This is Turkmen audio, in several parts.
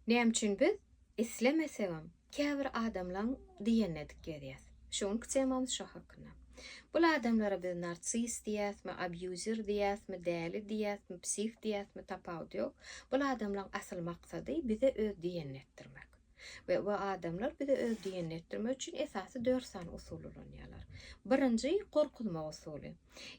Näme üçin biz islemesegem käbir adamlaň diýenine dik gezýäs? Şu günki temamyz şo hakynda. Bul adamlara biz narsis diýýäsmi, abýuzer diýýäsmi, däli diýýäsmi, psih diýýäsmi tapawudy ýok. Bul adamlaň asyl maksady bize öz diýenini etdirmek. We bu adamlar bize öz diýenini etdirmek üçin esasy dört sany usul ulanýarlar. Birinji gorkuzmak usuly.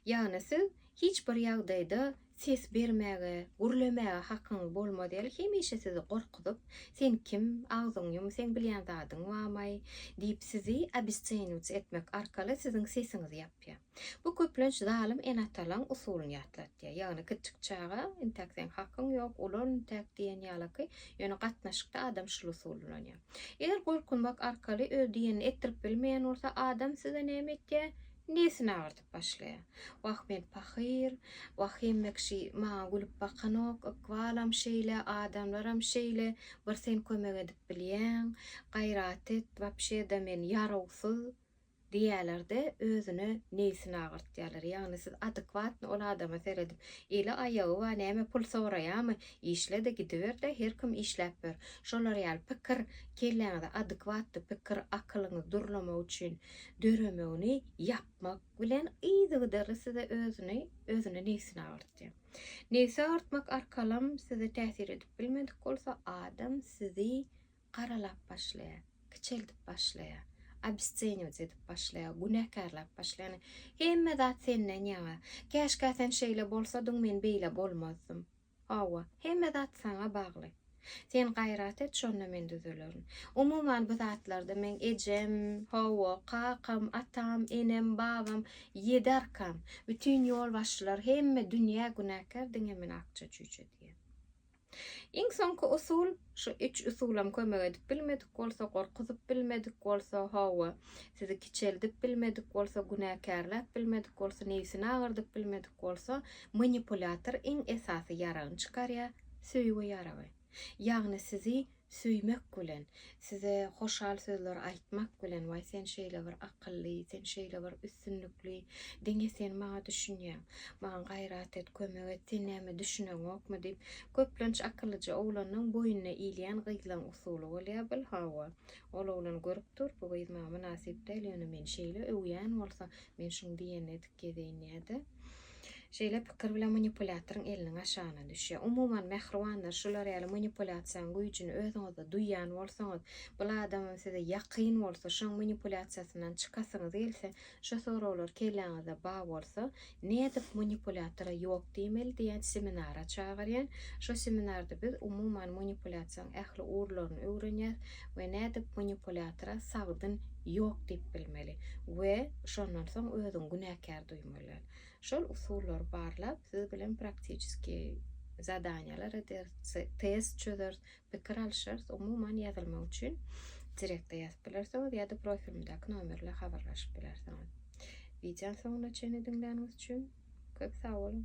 Ýagny siz hiç bir ýagdaýda Ses bermäge, gürlemäge hakyň bolmaz ýaly hemişe sizi gorkuzyp, Sen kim, agzyňy ýum, seň bilýän zadyň bamaý? diýip sizi obesceniut etmek arkaly siziň sesiňizi ýapýar. Bu köplenç zalym ene-atalaň usulyny ýatlatýar. Ýagny kiçjik çaga, Intäk seň hakyň ýok, ulal intäk diýen ýalaky, ýöne gatnaşykda adam şul usuly ulanýar. Eger gorkuzmak arkaly öz diýenini etdirip bilmeýän bolsa, adam size näme etýär? Nesini agyrdyp. başlaýar. Wah men pahyr, Wahym Mekşi maňa gülüp bakanok, ykbalam şeýle, adamlaram şeýle, bir sen kömek edip bilýäň, gaýrat et, wapşe-da men ýarawsyz diýýäler-de, özüne neýsini agyrtýarlar. Ýagny siz adekwatny ol adama seredip, eli aýagy bar, näme pul soraýamy, işle-de gidiber-de, her kim işläp ber. Şolar ýaly pikir kelläňize adekwatly pikir, akylyňyz durlamak üçin döremegini ýap. agyrtmak bilen yzygiderli size özüni özüne nebsini agyrtýar. Nebsi agyrtmak arkalam size täsir edip bilmedik bolsa, adam sizi garalap başlaýar, kiçeldip başlaýar, obesceniwt edip başlaýar, günäkärläp başlaýar. Hemme zat senden ýaňa. Käşkä sen şeýle bolsadyň, men beýle bolmazdym. Hawa, hemme zat saňa bagly. Sen gaýrat et, şonda men düzelerin. Umuman bu zatlarda meň ejem, hawa, kakam, atam, enem, babam, ýedi arkam, bütin ýolbaşçylar, hemme dünýä günäkär, diňe men akja-çüýçe diýen. Iň soňky usul. Şu üç usulam kömek edip bilmedik bolsa, gorkuzyp bilmedik bolsa, hawa, sizi kiçeldip bilmedik bolsa, günäkärläp bilmedik bolsa, nebsini agyrdyp bilmedik bolsa, manipulýator iň esasy ýaragyny çykarýar, söýgi ýaragy. Ýagny sizi söýmek bilen, size hoşal sözler aýtmak bilen, waý sen şeýle bir akylly, sen şeýle bir üstünlikli, diňe sen maňa düşünýäň, maňa gaýrat et, kömek et, sen näme düşüneňokmy diýip, Köplenç akyllyja oglanyň boýnuna ilýän gyzlaň usuly bolýa bul hawa. Ol oglan görüp dur bu gyz maňa mynasyp däl ýöne meni şeýle öwýän bolsa men şuň diýenini edip gezeýin ýa-da Şeýle pikir bilen manipulýatoryň eliniň aşagyna düşýä. Umuman mähribanlar şular ýaly manipulýasiýaň güýjini özüňizde duýýan bolsaňyz bul adamam size ýakyn bolsa şoň manipulýasiýasyndan çykasyňyz gelse Şu soraglar kelläňizde bar bolsa, nädip manipulýatora ýok diýmeli diýen seminara çagyrýan. Şu seminarda biz umuman manipulýasiýaň ähli ugurlaryny öwrenýäs we nädip manipulýatora sagdyn ýok diýip bilmeli we şondan soň özüňi günäkär duýmaly. Şol usullary barlap, siz bilen praktiçeskiý zadaniýalar ederis, test çözeris, Pikir alyşarys, umuman ýazylmak üçin direkte ýazyp bilersiňiz ýa-da profilimdäki nomerle habarlaşyp bilersiňiz. Wideony soňuna çenli diňläniňiz üçin köp sag boluň!